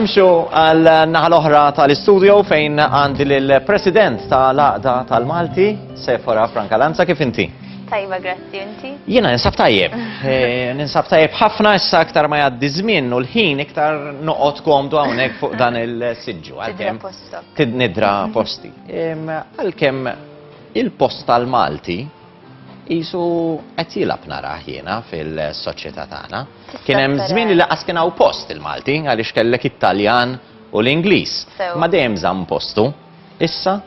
Nimxu għal naħa l-oħra tal-istudio fejn għandi l-President tal-Aqda tal-Malti, Sefora Franka Lanza, kif inti? Tajba, grazzi, inti? Jena, ninsab tajjeb. Eh, ninsab tajjeb ħafna issa aktar ma jaddi żmien u l-ħin iktar noqgħod komdu hawnhekk fuq dan il-siġġu. Nidra posta. Nidra posti. Għalkemm il-post tal-Malti jisu qed jilab naraħ jiena fil-soċjetà tagħna. Kien hemm żmien li laqas kien hawn post il-Malti għaliex kellek it-Taljan u l-Ingliż. Ma dejjem żamm postu. Issa?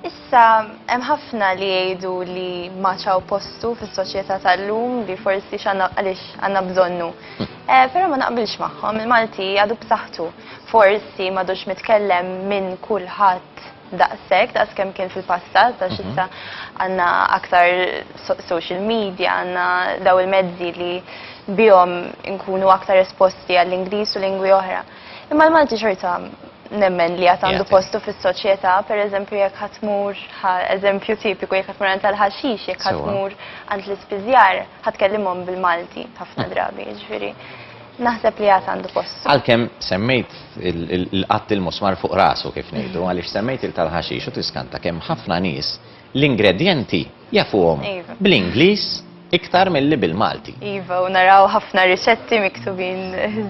Issa hemm ħafna li jgħidu li ma ċaw postu fis-soċjetà tal-lum li forsi x'għandna għaliex għandna bżonnu. Hm. Eh, però ma naqbilx magħhom, il-Malti għadu b'saħħtu. Forsi m'għadux mitkellem minn kulħadd daqshekk daqs kemm kien fil-passat għax issa għandna aktar social media, għandna daw il-mezzi li bihom inkunu aktar esposti għall-Ingliż u lingwi oħra. Imma l-Malti xorta nemmen li għad għandu postu fis-soċjetà, pereżempju jekk ħadd tmur eżempju tipiku jekk ħadd tmur għand tal-ħaxix, jekk ħadd tmur għand l-ispiżjar, ħa tkellimhom bil-Malti ħafna drabi, jiġifieri. Naħseb li għad għandu postu. Għalkemm semmejt il-qatt il-musmar fuq rasu kif ngħidu, għaliex semmejt il-tal-ħaxix u tiskanta kemm ħafna nies l-ingredjenti jafuhom iva. bl-Ingliż iktar mill-li bil-Malti. Iva, u naraw ħafna riċetti miktubin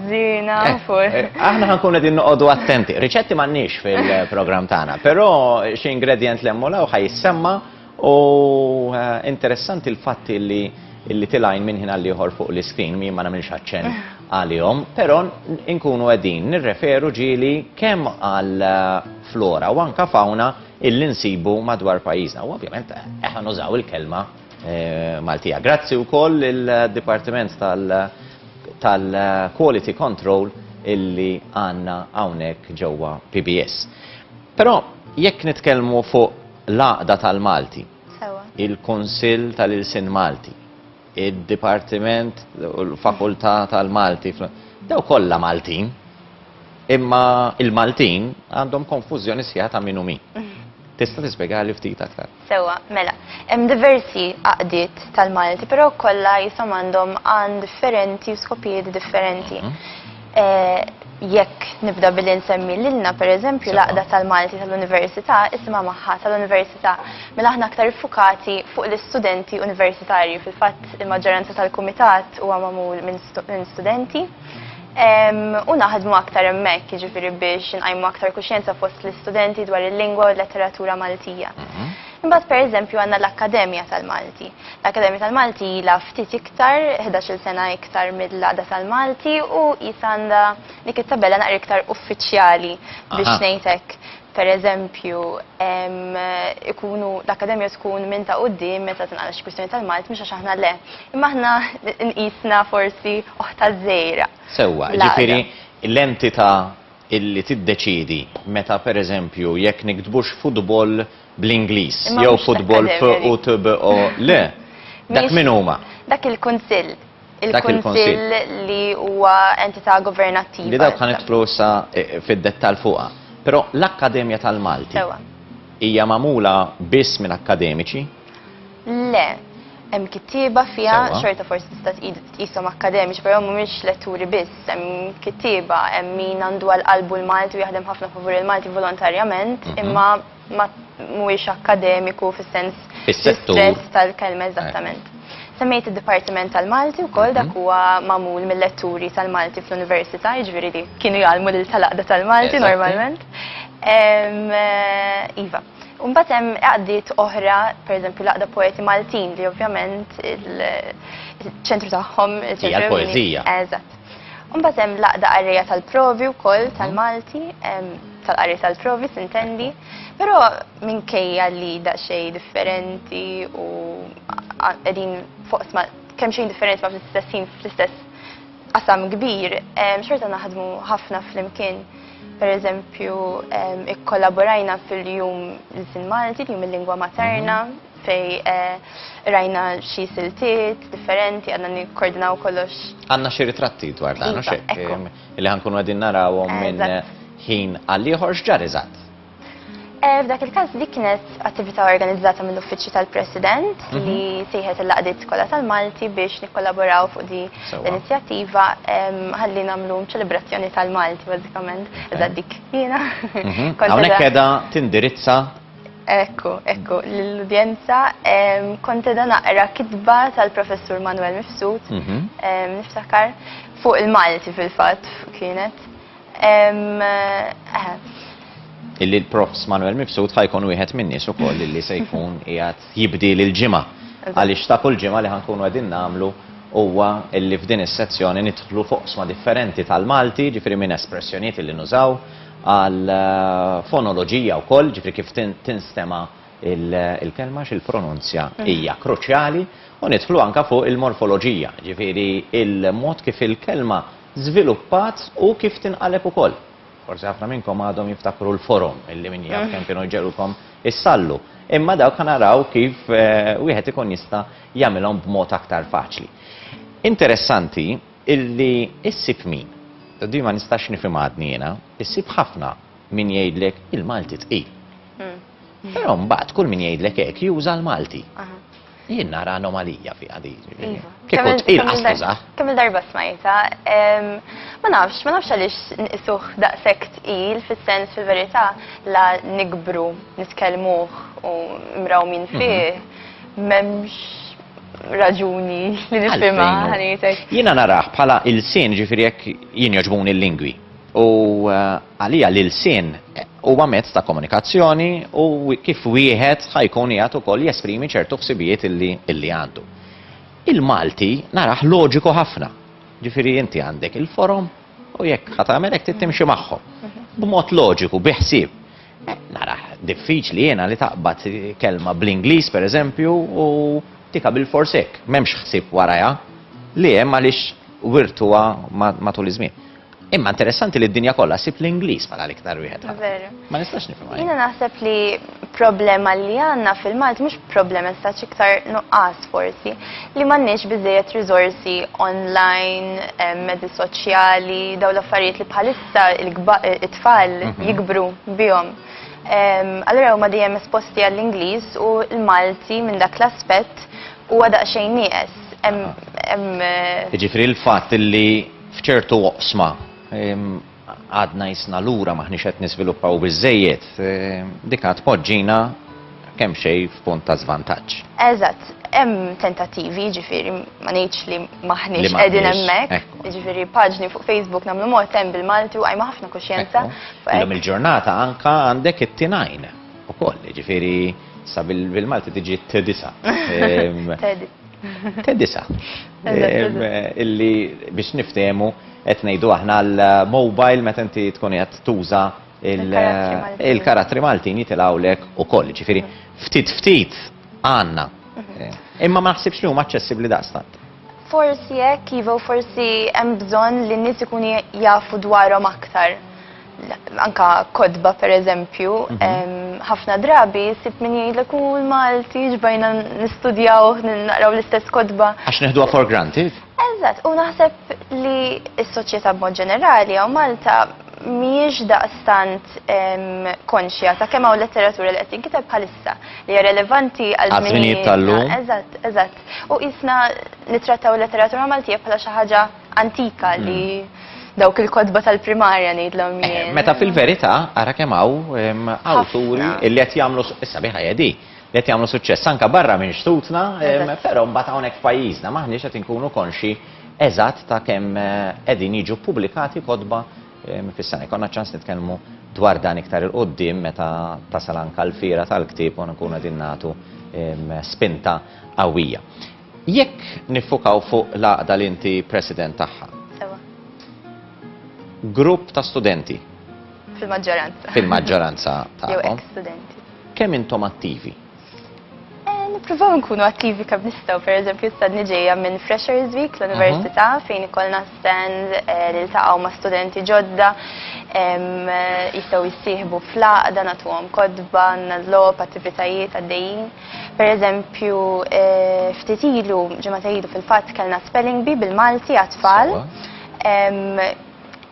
zina. Eh, eh, aħna ħankun għedin noqodu attenti. Riċetti mannix fil-program tagħna, però xi ingredjent lemmu law ħajsemma U interessanti l-fatt li li tilajn minn ħin għall-ieħor fuq l-iskrin mi ma nagħmilx aċċen eh. għalihom, però nkunu qegħdin nirreferu ġieli kemm għal eh, flora u anka fauna illi nsibu madwar pajjiżna. U ovvjament eh, eħan użaw il-kelma Maltija. Grazzi wkoll il-Dipartiment tal-Quality Control illi għanna hawnhekk ġewwa PBS. Però jekk nitkellmu fuq L-Għaqda tal-Malti, il-Kunsill tal-Ilsien Malti, id-Dipartiment u l-Fakultà tal-Malti fl. Dawn kollha Maltin, imma l-Maltin għandhom konfużjoni sħiħa ta' min hu min. Tista' tispjegali ftit aktar? Sewwa, mela. Hemm diversi għaqdiet tal-Malti, però kollha qishom għandhom għan differenti u skopijiet differenti. Jekk nibda billi nsemmi lilna, per eżempju, l-għaqda tal-Malti tal-Università isimha magħha tal-Università, mela aħna aktar iffukati fuq l-istudenti universitarji. Fil-fatt, il-maġġoranza tal-kumitat huwa magħmul minn studenti u naħdmu aktar hemmhekk, jiġifieri biex inqajmu aktar kuxjenza fost l-istudenti dwar il-lingwa u l-letteratura Maltija. Imbagħad, per eżempju, għandna l-Akkademja tal-Malti. L-Akkademja tal-Malti ilha ftit iktar, ħdax-il sena iktar mill-Għaqda tal-Malti u qisha għandha dik it-tabella naqra iktar uffiċjali biex ngħid hekk. Pereżempju, ikunu l-Akkademja tkun minn ta' quddiem meta tingħalaq xi kwistjoni tal-Malti mhux għax aħna le. Imma aħna nqisna forsi oħtha żgħira. Sewwa, jiġifieri l-entità illi tiddeċiedi meta pereżempju jekk niktbux futbol bl-Ingliż, jew futbol f u t b o le. Dak min huma? Dak il-Kunsill. Il-Kunsill li huwa entità governattiva. Li dawk ħanitlu sa fid-dettall fuqha. Però l-Akkademja tal-Malti. Ewwa. Hija magħmula biss minn akkademiċi? Le, hemm kittieba fiha, xorta forsi tista' tqishom akkademiċi, però mhumiex letturi biss, hemm kittieba, hemm min għandu għal qalbu l-Malti u jaħdem ħafna favur il-Malti volontarjament, imma ma mhuwiex akkademiku fis-sens strett tal-kelma eżattament. Semmejt id-Dipartiment tal-Malti wkoll dak huwa magħmul mill-letturi tal-Malti fl-Università, jiġifieri li kienu jgħallmu lil tal-Għaqda tal-Malti normalment. Iva. U mbagħad hemm għaqdiet oħra, pereżempju l-Għaqda Poeti Maltin li ovvjament il-ċentru tagħhom, il-ċentru ewlieni. Hija l-poeżija. Eżatt. Imbagħad hemm l-għaqda qarrija tal-provi wkoll mhm. tal-Malti, tal-qarrija tal-provi sintendi, però minkejja li daqsxejn differenti u qegħdin fuq sma kemm xejn differenti ma fl-istess ħin fl-istess qasam kbir, xorta naħdmu ħafna flimkien. Per eżempju, ikkollaborajna fil-jum l-sin Malti, jum il-lingwa materna, mhm. fej rajna xi siltiet differenti, għadna nikkordinaw kollox. Għanna xi ritratti dwar dan, iva, xek, li ħankunu għadin narawhom minn ħin għall-ieħor x'ġar eżatt. Eh, f'dak il-każ dik kienet attività organizzata mill-Uffiċċju tal-President mhm. li sejħet il-laqdiet kollha tal-Malti biex nikkollaboraw fuq di l-inizjattiva ħalli nagħmlu ċelebrazzjoni tal-Malti bażikament iżda dik jiena. Mhm. Hawnhekk qiegħda tindirizza Ekku, ekku, l-udjenza kont edha naqra kitba tal-professur Manuel Mifsud, mhm. niftakar, fuq il-Malti fil-fat kienet. Eh. Illi l-profs Manuel Mifsud ħajkun wieħed minnis u koll illi sejkun jgħat jibdi l-ġimma. Għalix ta' kull ġimma li ħankunu għedin namlu huwa illi f'din is-sezzjoni nidħlu fuq sma differenti tal-Malti, ġifiri minn espressjoniet illi nużaw, għall-fonoloġija wkoll, jiġifieri kif tinstema' l-kelma, x'il-pronunzja hija kruċjali, u nidħlu anke fuq il-morfoloġija, jiġifieri l-mod kif il-kelma żviluppat u kif tinqaleb ukoll. Forsi ħafna minnkom għadhom jiftakru l-forom, illi min jaf kemm kienu jġegħlulkom issallu. Imma dawk ħa naraw kif wieħed ikun jista' jagħmilhom b'mod aktar faċli. Interessanti, Illi issib min? Di ma nistax nifhimha għadni jiena. Issib ħafna min jgħidlek il-Malti tqil. Però mbagħad kull min jgħidlek hekk juża l-Malti. Jien nara anomalija fiha di. Iva. Kieku tqil qas tużah. Kemm il-darba smajta, ma nafx, ma nafx għaliex nqisuh daqshekk tqil fis-sens fil-verità la nikbru, nitkellmuh u mrawmin fih, m'hemmx raġuni li nifhimha ħanietek. Jiena naraħ bħala il-sin ġifieri jekk jien joġbuni l-lingwi. U eh, għalija li l-sin eh, huwa mezz ta' komunikazzjoni u kif wieħed ħajkun jgħat ukoll jesprimi ċertu ħsibijiet illi għandu. Il-Malti naraħ loġiku ħafna. Ġifieri inti għandek il-forom u jekk ħatamel hekk tittimxi magħhom. Mhm. B'mod loġiku, biħsieb. Narah diffiċli jiena li taqbad kelma bl-Ingliż pereżempju u tika bilfors hekk, m'hemmx ħsieb warajha, li hemm għaliex wirtuha matul iż-żmien. Imma interessanti li d-dinja kollha sib l-Ingliż bħala l-iktar wieħed. Veru. Ma nistax nifhimha. Jiena naħseb li problema li għandna fil-Malt mhux problema sta iktar nuqqas forsi li m'għandniex biżejjed riżorsi online, mezzi soċjali, dawn l-affarijiet li bħalissa ta' il-tfal mhm. jikbru bihom. Allora huma dejjem esposti għall-Ingliż u l-Malti minn dak l-aspett huwa daqsxejn nieqes. Eh, Ġifri l-fatt li f'ċertu oqsma għadna jisna lura maħniex qed niżviluppaw biżejjed, dik għad poġġina kemm xejn f'punt ta' żvantaġġ. Eżatt, hemm tentattivi, jiġifieri ma ngħidx li m'aħniex qegħdin hemmhekk, jiġifieri paġni fuq Facebook nagħmlu mod hemm bil-Malti u qajma ħafna kuxjenza. Illum il-ġurnata anke għandek it-tinajn ukoll, jiġifieri sa bil-Malti tiġi t-disa. T-disa. Illi biex niftehmu qed ngħidu aħna l-mobile meta inti tkun qed tuża il-karattri Maltin jitilgħu lek ukoll, ġifieri ftit ftit għandna. Mhm. Imma ma naħsibx li huma aċċessibbli daqstant. Forsi hekk iva forsi hemm bżonn li n-nies ikunu jafu dwarhom aktar. Anka kodba pereżempju, mhm. ħafna drabi sib min jgħidlek u l-Malti ġbajna nistudjaw, naqraw l-istess kodba. Għax neħduha for granted? Eżatt, u naħseb li s-soċjetà b'mod ġenerali jew Malta mhijiex daqstant konxja ta' kemm hawn letteratura li qed tinkiteb bħalissa li hija relevanti għal żminijiet tal-lum. Eżatt, eżatt. U qisna nittrattaw il-letteratura Maltija bħala xi ħaġa antika li dawk il-kotba tal-primarja ngħidlhom jien. Meta fil-verità ara kemm hawn awturi li qed jagħmlu s-sabiħa hija dik. li qed jagħmlu suċċess anke barra minn xtutna, però mbagħad hawnhekk f'pajjiżna m'aħniex qed inkunu konxji eżatt ta' kemm qegħdin jiġu ppubblikati kotba fis-sena. Jkollna ċans nitkellmu dwar dan iktar 'il quddiem meta tasal anke l-fiera tal-ktieb u nkunu qegħdin nagħtu spinta qawwija. Jekk niffukaw fuq l-għaqda li inti president tagħha. Sewwa. Grupp ta' studenti. Fil-maġġoranza. Fil-maġġoranza tagħkom. Jew eks-studenti. Kemm intom attivi? Nippruvaw nkunu attivi kemm nistgħu, pereżempju stadni ġejja minn Freshers Week l-Università mhm. fejn ikollna stand eh, li ltaqgħu ma' studenti ġodda jistgħu jissieħbu fl-għaqda nagħtuhom kodba, nagħżlob attivitajiet għaddejjin. Pereżempju eh, ftit ilu ġimgħa ilu fil-fatt kellna spelling bee bil-Malti għat-tfal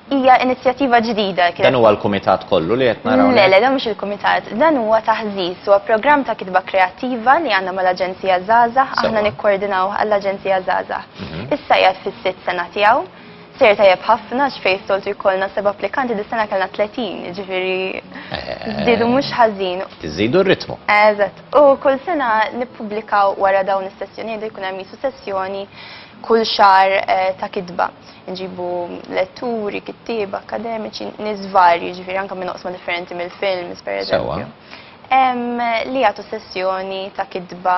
Hija inizjattiva ġdida kienet. Dan huwa l-kumitat kollu li qed naraw. Le, le, dan mhux il-kumitat. Dan huwa taħżiż, huwa programm ta' kitba kreattiva li għandna mal-Aġenzija Żgħażagħ, aħna nikkoordinawh għall-Aġenzija Żgħażagħ. Issa qiegħed fis-sitt sena tiegħu. Sejjer tajjeb ħafna għax fejn soltu jkollna seba' applikanti dis-sena kellna tletin, jiġifieri żdiedu mhux ħażin. Iżidu r-ritmu. Eżatt. U kull sena nippubblikaw wara dawn is-sessjonijiet jkun hemm qisu sessjoni kull xahar ta' kitba. Nġibu letturi, kittieba, akkademiċi, nies varji, ġifieri anke minn oqsma differenti mill-films, pereżempju. Li jagħtu sessjoni ta' kitba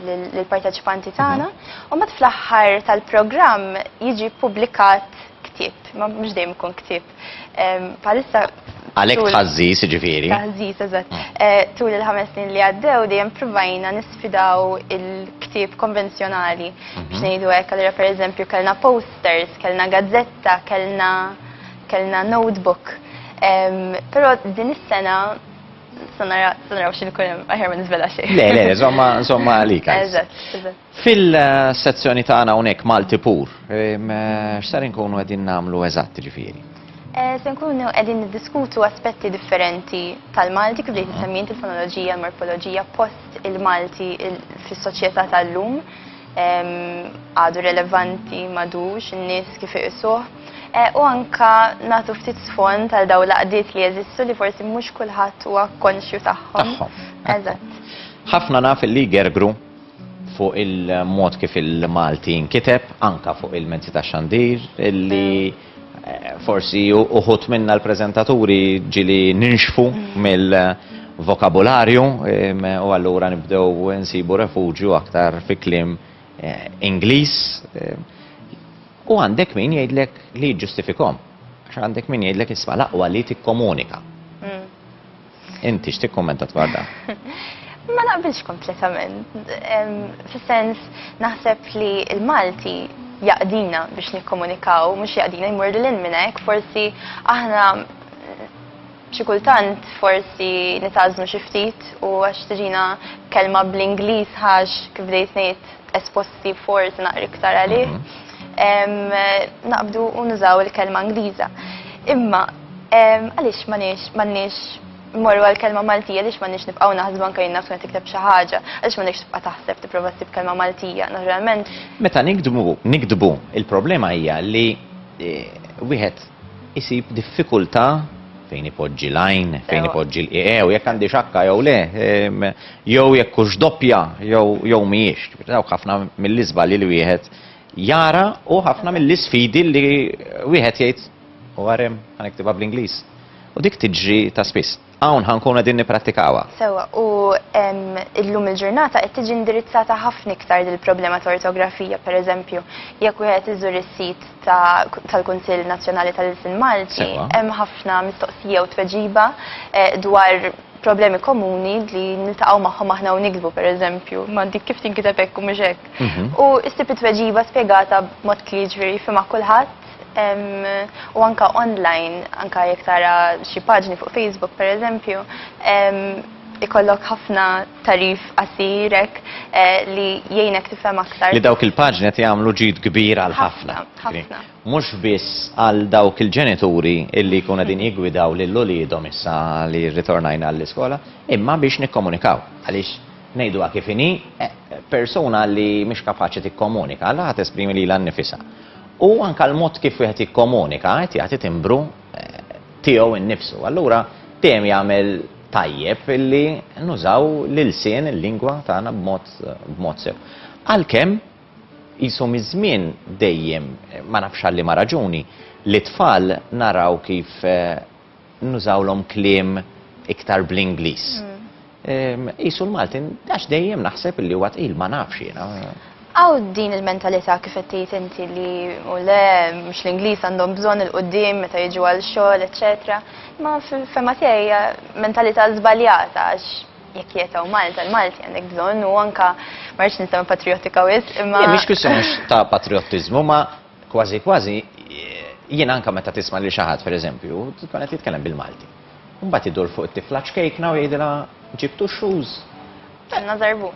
lill-parteċipanti tagħna, u mbagħad fl-aħħar tal-programm jiġi ppubblikat ktieb, ma mhux dejjem ikun ktieb Bħalissa Għalhekk tħażżiż jiġifieri. Taħżiż eżatt. Mm. Eh, tul il-ħames snin li għaddew dejjem provajna nisfidaw il-ktieb konvenzjonali mhm. biex ngħidu hekk allura pereżempju kellna posters, kellna gazzetta, kellna kellna notebook. Però din is-sena sanaraw xil kunem, aħjar ma nizvela xej. Le, le, zomma, zomma għalika. Eżat, eżat. Fil-sezzjoni tagħna hawnhekk Malti Pur, x'ser inkunu qegħdin nagħmlu eżatt ġifieri? Se nkunu qegħdin niddiskutu aspetti differenti tal-Malti kif bdejt issemmi int il-fonoloġija, il-morfoloġija, post il-Malti fis-soċjetà tal-lum, għadu relevanti, m'għadux, in-nies kif iqisuh, u anke nagħtu ftit sfond għal dawn l-għaqdiet li jeżistu li forsi mhux kulħadd huwa konxju tagħhom. Tagħhom. Eżatt. Ħafna naf li jgergru. fuq il-mod kif il-Malti jinkiteb, anke fuq il-mezzi tax-xandir, li forsi uħud minna l-preżentaturi ġieli ninxfu mill-vokabularju u allura nibdew insibu refuġju aktar fi kliem Ingliż. U għandek min jgħidlek li jiġġustifikhom, għax għandek min jgħidlek isma' l-aqwa li tikkomunika. Inti x'tikkummenta dwar dan? Ma naqbilx kompletament. Fis-sens naħseb li l-Malti jaqdina biex nikkomunikaw, mhux jaqdina jmur lil minn hekk, forsi aħna xi kultant forsi nitażnu xi ftit u għax tiġina kelma bl-Ingliż ħax kif dejt ngħid esposti forsi naqri iktar għalih. Mhm. Naqbdu u nużaw il-kelma Ingliża. Imma Għaliex m'għandniex immorru għall-kelma Maltija, għaliex m'għandniex nibqgħu naħsbu anke jien naf tkun qed tikteb xi ħaġa, għaliex m'għandekx tibqa' taħseb tipprova ssib kelma Maltija, naturalment. Meta niktbu, niktbu, il-problema hija li wieħed isib diffikultà fejn ipoġġi l-għajn, fejn ipoġġi l-qiegħ, jekk għandhiex akka jew le, jew jekk hux doppja jew mhijiex. Dawk ħafna mill-iżbalji li wieħed jara u ħafna mill-isfidi li wieħed jgħid u għarem, ħa niktibha bl-Ingliż, u dik tiġri ta' spiss. Hawn ħa nkunu qegħdin nipprattikawha. Sewwa, u illum il-ġurnata qed tiġi indirizzata ħafna iktar dil-problema ta' ortografija, pereżempju, jekk wieħed iżur is-sit tal-Kunsill Nazzjonali tal-Ilsien Malti, hemm ħafna mistoqsija u tweġiba eh, dwar problemi komuni li niltaqgħu magħhom aħna u nikdbu pereżempju, ma dik kif tinkiteb hekk u mhux hekk. Mhm. U ssib it-tweġiba spjegata b'mod kliġri fimha kulħadd u anka online, anka jekk tara xi paġni fuq Facebook per eżempju, ikollok ħafna tarif qasirek eh, li jgħinek tifhem aktar. Li dawk il-paġni qed jagħmlu ġid kbir għal ħafna. Ħafna. Mhux biss għal dawk il-ġenituri illi jkunu din jigwidaw lil uliedhom issa li rritornajna għall-iskola, imma biex nikkomunikaw. Għaliex ngħidu kif inhi eh, persuna li mhix kapaċi tikkomunika, għalha ħadd esprimi lilha nnifisha. U anke l-mod kif wieħed jikkomunika qed jagħti timbru tiegħu innifsu. Allura dejjem jagħmel tajjeb li nużaw l-ilsien, il-lingwa tagħna b'mod b'mod sew. Għalkemm qisu miż-żmien dejjem, ma nafx għal liema raġuni, lit-tfal naraw kif nużawlhom kliem iktar bl-Ingliż. Qisu l-Malti, għax dejjem naħseb li huwa tqil, ma nafx jiena. Hawn din il-mentalità kif qed tgħid inti li u le mhux l-Ingliż għandhom bżonn il-quddiem meta jiġu għal xogħol, eċċetera. Ma fil-fema tiegħi hija mentalità żbaljata għax jekk qiegħed hawn Malta, l-Malti għandek bżonn u anka ma rridx nistema' patrijotika wisq imma. Mhix kwistjoni ta' patriottiżmu ma Kważi kważi jien anke meta tisma' lil xi ħadd pereżempju tkun qed jitkellem bil-Malti. Imbagħad idur fuq it-tifla ċkejkna u jgħidilha ġibtu x-shoes? Kellna żarbun.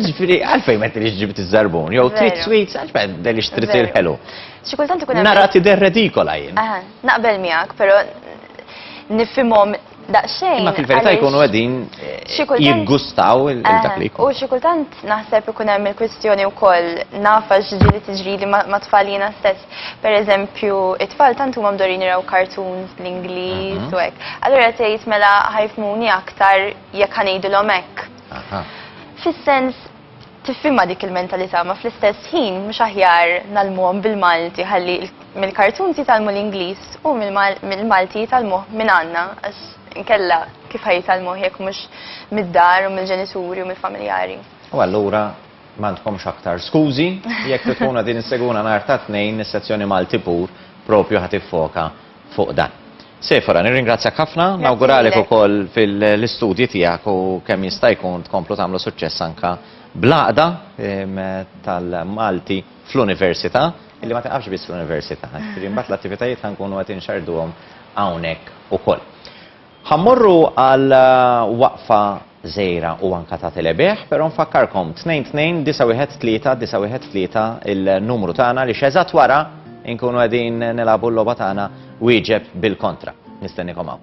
Ġifieri għalfejn ma tridx ġibt iż-żarbun jew trid sweets għax ma tridx trid il-ħelu. Xi kultant ikun hemm. Nara tidher redikola jien. Naqbel miegħek, però nifhimhom daqsxejn. Imma fil-verità jkunu qegħdin jiggustaw il-dak li jkun. U xi kultant naħseb ikun hemm il-kwistjoni wkoll nafa x'ġieli tiġrili ma' tfal jiena stess. Pereżempju, it-tfal tant huma mdorin jraw cartoons bl-Ingliż u hekk. Allura tgħid mela ħajfmuni aktar jekk ħa ngħidilhom hekk. Fis-sens Tifhimha dik il-mentalità ma fl-istess ħin mhux aħjar ngħallmuhom bil-Malti ħalli mill-cartoons jitgħallmu l-Ingliż u mill-Malti jitgħallmuh minn għandna għax inkella kif ħa jitgħallmuh jekk mhux mid-dar u mill-ġenituri u mill-familjari. U allura m'għandkomx aktar skużi, jekk tkunu qegħdin issegwuna nhar tat-Tnejn is-sezzjoni Malti Pur propju ħa tiffoka fuq dan. Sephora, nirringrazzjak ħafna, nawguralek ukoll fil-istudji tiegħek u kemm jista' jkun tkomplu tagħmlu suċċess anka bl-għaqda ehm, tal-Malti fl-università, illi ma taqafx biss fl-università, ġifieri mbagħad l-attivitajiet ħankunu qed inxarduhom hawnhekk ukoll. Ħa mmorru għal waqfa żgħira u anke ta' telebigħ, però nfakkarkom, 2-2-9-1-3-9-1-3 il-numru tagħna għaliex eżatt wara nkunu qegħdin nilagħbu l-logħba tagħna wieġeb bil-kontra. Nistennikom hawn.